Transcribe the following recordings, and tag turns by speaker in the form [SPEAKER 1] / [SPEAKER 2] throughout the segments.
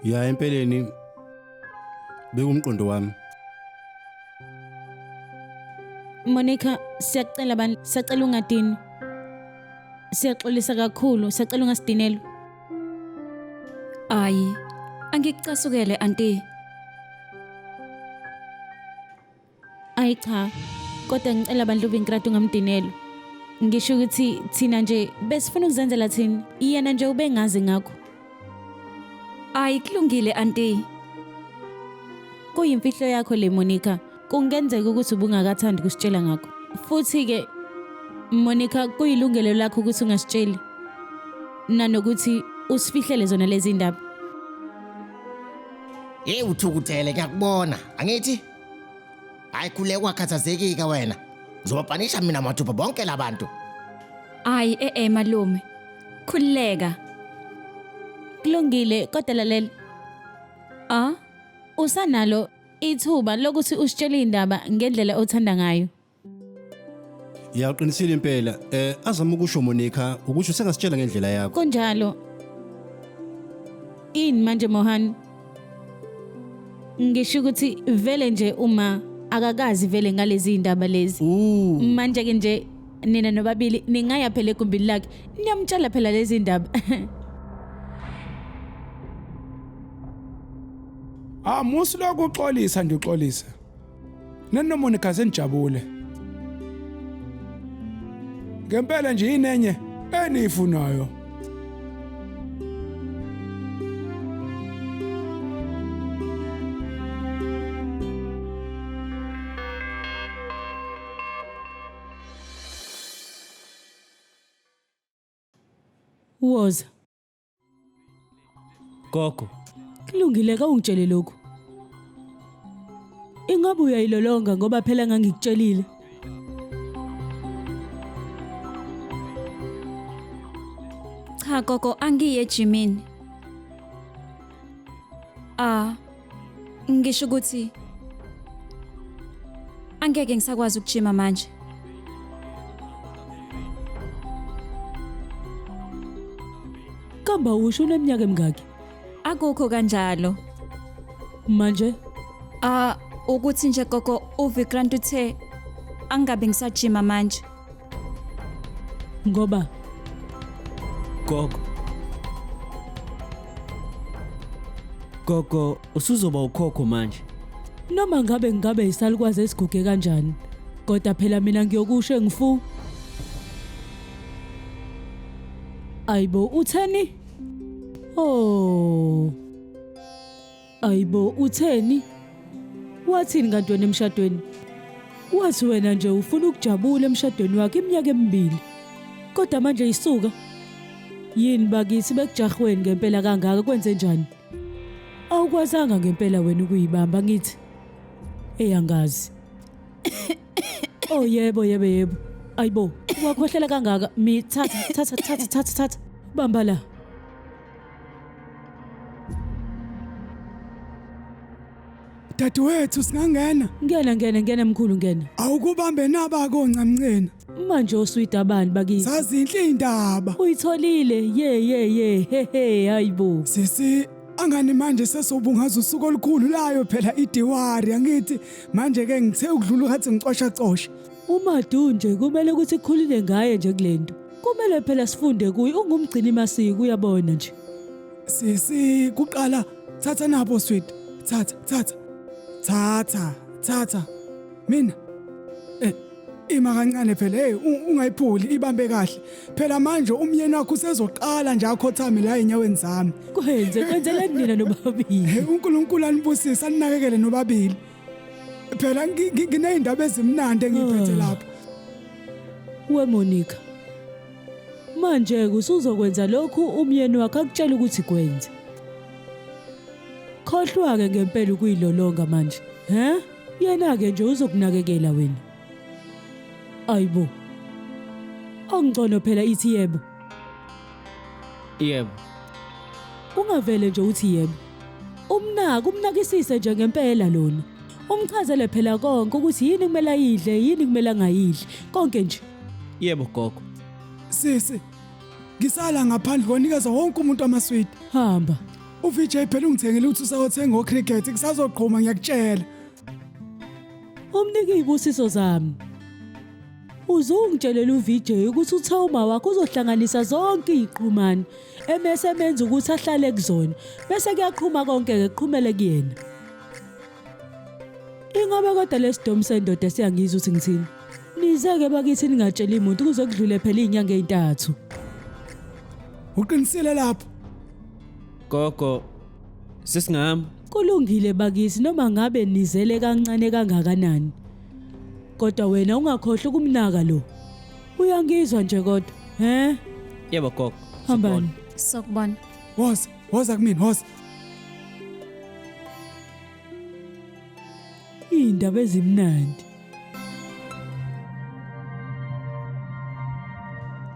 [SPEAKER 1] ya empeleni bekumqondo wami
[SPEAKER 2] Monica siyakucela bandla siyacela ungadini siyaxolisa kakhulu siyacela ungasidinelwa
[SPEAKER 3] ayi angikucasukele anti
[SPEAKER 2] Ayi cha, kodwa ngicela bandla uVinkrad ungamdinelwa. Ngisho ukuthi thina nje besifuna ukuzenzela thina, yena nje ubengazi ngakho.
[SPEAKER 3] Ayi kulungile anti.
[SPEAKER 2] Kuyimfihlo yakho le Monica. Kungenzeka ukuthi ubungakathandi kusitshela ngakho. Futhi ke Monica kuyilungelo lakho ukuthi ungasitsheli. Nanokuthi usifihlele zona lezi ndaba.
[SPEAKER 4] Hey uthukuthele ngiyakubona, angithi? Hayi khuleka ungakhathazekika wena. Ngizobapanisha mina mathupha bonke labantu. Hayi
[SPEAKER 3] eh eh malume. Khululeka. Kulungile
[SPEAKER 2] kodwa lalela. Ah, usanalo ithuba lokuthi usitshele indaba ngendlela othanda ngayo. Ya
[SPEAKER 1] uqinisile impela. Eh azama ukusho Monica ukuthi usengasitshela ngendlela yakho. Kunjalo.
[SPEAKER 2] Ini manje Mohan? Ngisho ukuthi vele nje uma akakazi vele ngalezi indaba lezi. Ooh. Manje ke nje nina nobabili ningaya phela egumbini lakhe niyamtshela phela lezi indaba.
[SPEAKER 5] Ah musi lokuxolisa nje uxolisa. Nani noMonica senijabule. Ngempela nje inenye eniyifunayo.
[SPEAKER 2] Woza,
[SPEAKER 6] Gogo, Kulungile
[SPEAKER 2] kawungitshele lokhu. Ingabe uyayilolonga ngoba phela ngangikutshelile.
[SPEAKER 3] Cha gogo angiye ejimini. Ah, Ngisho ukuthi angeke ngisakwazi ukujima manje.
[SPEAKER 2] Kamba usho uneminyaka emingaki? Akukho
[SPEAKER 3] kanjalo.
[SPEAKER 2] Manje Ah
[SPEAKER 3] ukuthi nje gogo uVikrant uthe angabe ngisajima manje.
[SPEAKER 2] Ngoba gogo
[SPEAKER 6] gogo usuzoba ukhokho manje noma ngabe
[SPEAKER 2] ngabe isalukwazi esiguge kanjani kodwa phela mina ngiyokusho engifu ayibo utheni oh Ayibo utheni? Wathini kanti wena emshadweni? Wathi wena nje ufuna ukujabula emshadweni wakhe iminyaka emibili. Kodwa manje isuka. Yini bakithi bekujahweni ngempela kangaka kwenze njani? Awukwazanga ngempela wena ukuyibamba ngithi. Eyangazi. Oh yebo yebo yebo. Ayibo, wakhohlela kangaka. Mi thatha thatha thatha thatha thatha. Bamba la.
[SPEAKER 5] Dadewethu singangena. Ngena ngena ngena mkhulu
[SPEAKER 2] ngena. Awukubambe naba
[SPEAKER 5] koncamncena. Manje oswida
[SPEAKER 2] bani bakithi? Zazinhle indaba.
[SPEAKER 5] Uyitholile. Ye
[SPEAKER 2] ye ye. He he hayibo. Sisi
[SPEAKER 5] angani manje sesobungaza usuku olukhulu layo phela idiwari angithi manje ke ngithe ukudlula ngathi ngicosha cosha. UMadu
[SPEAKER 2] nje kumele ukuthi khulile ngaye nje kulento. Kumele phela sifunde kuye ungumgcini masiko uyabona nje. Sisi
[SPEAKER 5] kuqala thatha nabo sweet. Thatha thatha. Thatha thatha. Mina eh ima kancane phela hey ungayiphuli ibambe kahle phela manje umyeni wakho usezoqala nje akhothame la enyaweni zami kwenze kwenzeleni
[SPEAKER 2] nina nobabili hey uNkulunkulu anibusise
[SPEAKER 5] aninakekele nobabili phela ngineyindaba ezimnandi engiphethe ah. lapha
[SPEAKER 2] we Monica manje kusuzokwenza lokhu umyeni wakhe akutshela ukuthi kwenze khohlwa ke ngempela ukuyilolonga manje he yena ke nje uzokunakekela wena ayibo ongcono phela ithi yebo
[SPEAKER 6] yebo
[SPEAKER 2] ungavele nje uthi yebo Umnaka umnakisise nje ngempela lona. Umchazele phela konke ukuthi yini kumele ayidle, yini kumele angayidli, konke nje. Yebo gogo.
[SPEAKER 6] Sisi,
[SPEAKER 5] ngisala ngaphandle
[SPEAKER 2] kwanikeza
[SPEAKER 5] wonke umuntu amaswidi. Hamba. UVJ phela ungithengele ukuthi usawothenga ocricket kusazoqhuma ngiyakutshela.
[SPEAKER 2] Umnike ibusiso zami. uze ungitshelele uVJ ukuthi uthe uma wakho uzohlanganisa zonke iziqhumane emese emenza ukuthi ahlale kuzona bese kuyaqhuma konke ke qhumele kuyena Ingabe kodwa lesidomu sendoda siyangizwa ukuthi ngithini Nizeke bakithi ningatsheli umuntu kuze kudlule phela izinyanga ezintathu
[SPEAKER 5] Uqinisile lapho
[SPEAKER 6] Gogo sisingami kulungile
[SPEAKER 2] bakithi noma ngabe nizele kancane kangakanani Kodwa wena ungakhohlwa ukumnaka lo. Uyangizwa nje kodwa, he? Yebo gogo.
[SPEAKER 6] Hambani.
[SPEAKER 2] Sokubona.
[SPEAKER 3] Woza, woza
[SPEAKER 5] kumina, woza.
[SPEAKER 2] Indaba ezimnandi.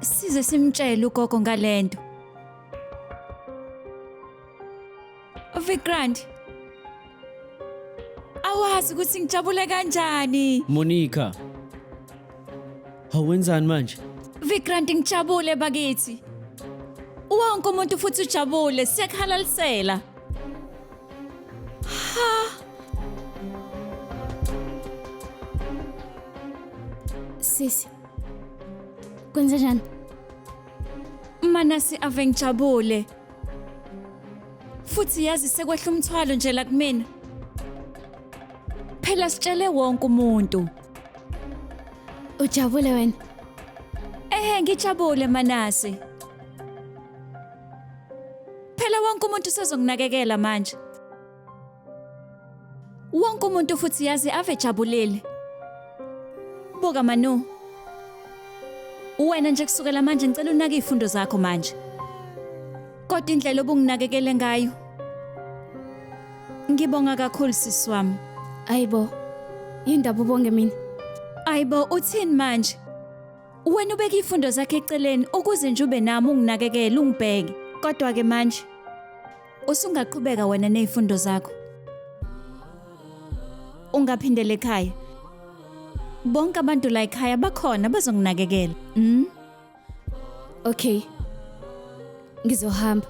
[SPEAKER 3] Size simtshele ugogo ngalento. Vikrant. Awazi ukuthi ngijabule kanjani. Monica.
[SPEAKER 6] Hawenzani manje? Vikrant
[SPEAKER 3] ngijabule bakithi. Wonke umuntu futhi ujabule siyakhalalisela. Ha.
[SPEAKER 7] Sisi. Kwenzenjani? Manasi
[SPEAKER 3] ave ngijabule. Futhi yazi sekwehla umthwalo nje la kumina. Phela sitshele wonke umuntu.
[SPEAKER 7] Ujabule wena? Ehhe ngijabule
[SPEAKER 3] Manase. Phela wonke umuntu sezonginakekela manje. Wonke umuntu futhi yazi ave jabulile. Buka Manu. Wena nje kusukela manje ngicela unake izifundo zakho manje. Kodwa indlela obunginakekele ngayo. Ngibonga kakhulu sisi wami. Ayibo.
[SPEAKER 7] Yindaba ubonge mina. Ayibo
[SPEAKER 3] uthini manje? Wena ubeka izifundo zakhe eceleni ukuze nje ube nami unginakekele ungibheke. Kodwa ke manje Usungaqhubeka wena nezifundo zakho. Ungaphindele ekhaya. Bonke abantu la ekhaya bakhona bazonginakekela. Mm?
[SPEAKER 7] Okay. Ngizohamba.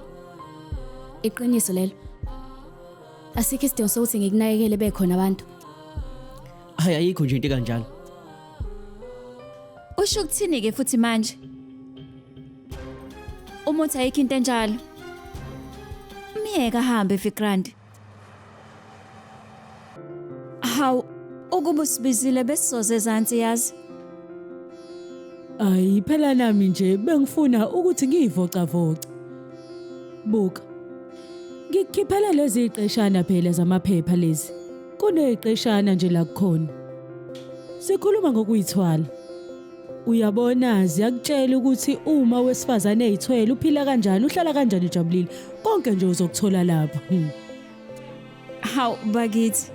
[SPEAKER 7] Iqiniso lelo. Asikho isidingo sokuthi ngikunakekele bekhona abantu.
[SPEAKER 6] Hayi ayikho nje into kanjalo.
[SPEAKER 3] Usho ukuthini ke futhi manje? Uma uthi ayikho into enjalo. Myeka ahambe Vikrant. Hawu ukuba usibizile besizoze ezansi yazi.
[SPEAKER 2] Ayi phela nami nje bengifuna ukuthi ngiyivocavoce. Buka. Ngikukhiphela lezi iqeshana phela zamaphepha lezi. Kuneqeshana nje la kukhona. Sikhuluma ngokuyithwala. Uyabona ziyakutshela ukuthi uma wesifazane eyithwele uphila kanjani uhlala kanjani ujabulile konke nje uzokuthola lapha. Hmm.
[SPEAKER 3] Haw bakithi.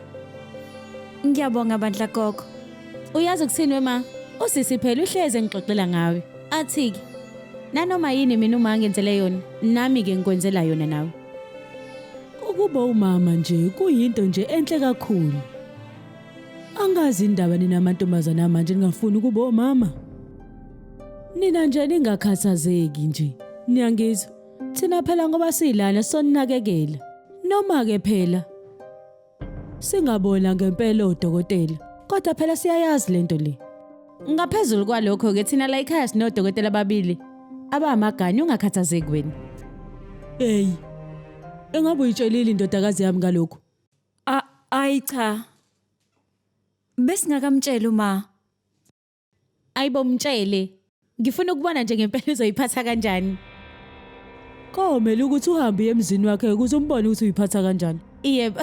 [SPEAKER 3] Ngiyabonga bandla gogo. Uyazi ukuthini
[SPEAKER 7] wema? Usisi phela uhleze engixoxela ngawe. Athi ke nanoma yini mina uma ngenzele yona nami ke ngikwenzela yona nawe.
[SPEAKER 2] Ukuba umama nje kuyinto nje enhle kakhulu. Angazi indaba nina amantombazane amanje ningafuni ukuba omama. Nina nje ningakhathazeki nje. Niyangizwa? Thina phela ngoba silana soninakekela. Noma ke phela singabona ngempela odokotela. Kodwa phela siyayazi lento le. Ngaphezulu
[SPEAKER 7] kwalokho ke thina la ekhaya sinodokotela ababili abamagani ungakhathazeki wena. Hey.
[SPEAKER 2] Engabe uyitshelile indodakazi yami ngalokho? A- Ayi
[SPEAKER 3] cha. Besingakamtsheli uma.
[SPEAKER 7] Ayibo mtshele. Ngifuna ukubona nje ngempela uzoyiphatha kanjani.
[SPEAKER 2] Komele ukuthi uhambe uye emzini wakhe ukuze umbone ukuthi uyiphatha kanjani. Yebo.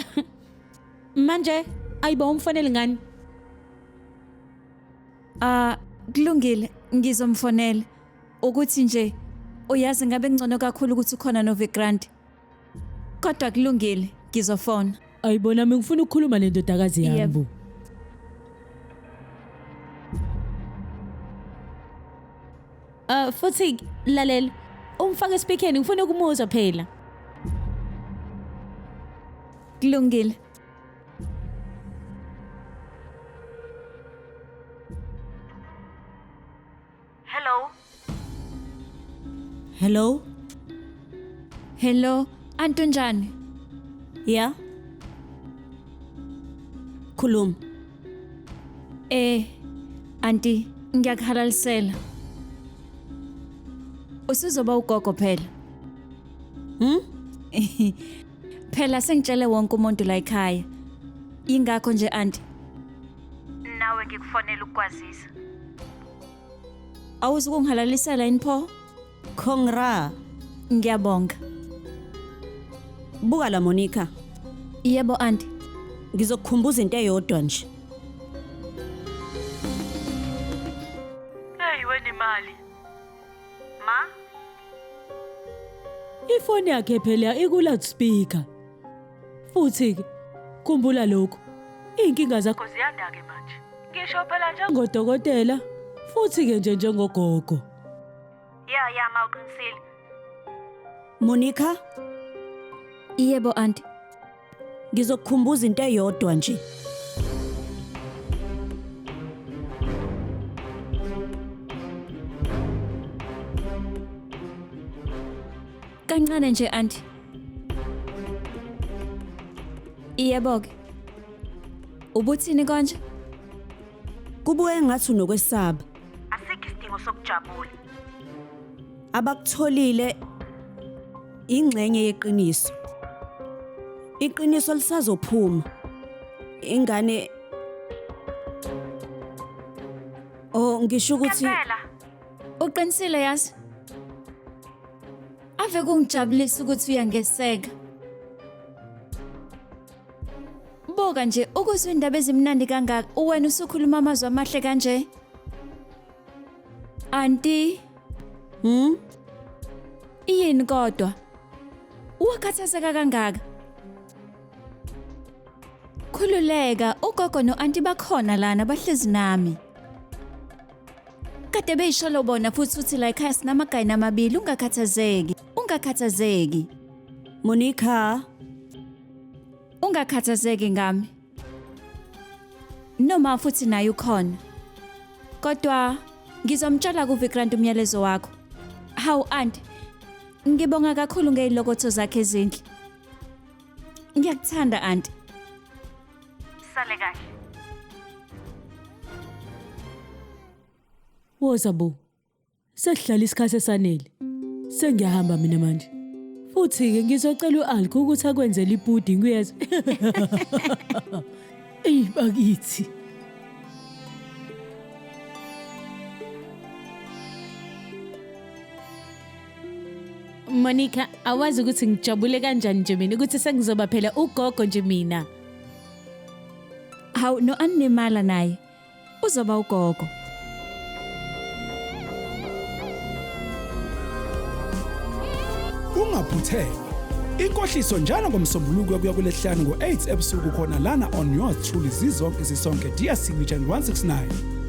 [SPEAKER 7] Manje ayibo umfonele ngani?
[SPEAKER 3] Ah, kulungile, ngizomfonela. Ukuthi nje uyazi ngabe ngcono kakhulu ukuthi ukhona noVikrant. Kodwa kulungile, ngizofona. Ayibona mina ngifuna
[SPEAKER 2] ukukhuluma nendodakazi Yebo. yami.
[SPEAKER 3] Uh
[SPEAKER 7] futhi lalela, umfake speakerni ngifuna ukumuzwa phela.
[SPEAKER 3] Kulungile.
[SPEAKER 2] Hello?
[SPEAKER 3] Hello? Hello, anti unjani?
[SPEAKER 7] Yeah? Khuluma. Eh,
[SPEAKER 3] anti ngiyakuhalalisela. Usuzoba ugogo phela. Hmm? phela sengitshele wonke umuntu la ekhaya. Ingakho nje anti. Nawe ngikufonela ukukwazisa. awuzukungihalalisela yini pho congra
[SPEAKER 7] ngiyabonga buka la monica yebo
[SPEAKER 3] anti ngizokukhumbuza
[SPEAKER 7] into eyodwa nje Hey
[SPEAKER 2] wena imali. Ma, ifoni yakhe phela ikula speaker Futhi-ke, khumbula lokhu, iy'nkinga zakho ziyanda-ke manje. Ngisho phela njengodokotela, futhi-ke nje njengogogo. Ya, ya, ma uqinisile.
[SPEAKER 7] Monica?
[SPEAKER 3] Yebo anti. Ngizokukhumbuza
[SPEAKER 7] into eyodwa nje.
[SPEAKER 3] Kancane nje anti. Iyebo ke. Ubuthini konje?
[SPEAKER 7] Kubuye ngathi unokwesaba. Asikho isidingo
[SPEAKER 2] sokujabula.
[SPEAKER 7] Abakutholile ingxenye yeqiniso. Iqiniso lisazophuma. Ingane Oh ngisho ukuthi Ngempela
[SPEAKER 3] Uqinisile yazi. Ave kungijabulisa ukuthi uyangeseka. Buka nje ukuzwa indaba ezimnandi kangaka uwena usukhuluma amazwi amahle kanje. Anti. Hmm? Iyini kodwa? Uwakhathazeka kangaka? Khululeka, ugogo no-anti bakhona lana bahlezi nami. Kade beyisholo bona futhi uthi la ekhaya sinamagayini amabili ungakhathazeki. Ungakhathazeki. Monica, Ungakhathazeki ngami. Noma futhi naye ukhona. Kodwa ngizomtshela kuVikrant umyalezo wakho. Hawu aunt. Ngibonga kakhulu ngezilokotho zakhe ezinhle. Ngiyakuthanda aunt. Sale
[SPEAKER 2] kahle. Woza bo. Sesihlala isikhathi esanele. Sengiyahamba mina manje. Futhi ke ngizocela uAlko ukuthi akwenzele ipudding uyezwa. Ey bakithi.
[SPEAKER 7] Monica awazi ukuthi ngijabule kanjani nje mina ukuthi sengizoba phela ugogo nje mina
[SPEAKER 3] hawu no animala naye uzoba ugogo
[SPEAKER 5] ungaphuthelwa inkohliso njalo ngomsombuluko kuya kulesihlanu ngo-8 ebusuku khona lana on yours truly zizonke sisonke dsc region 169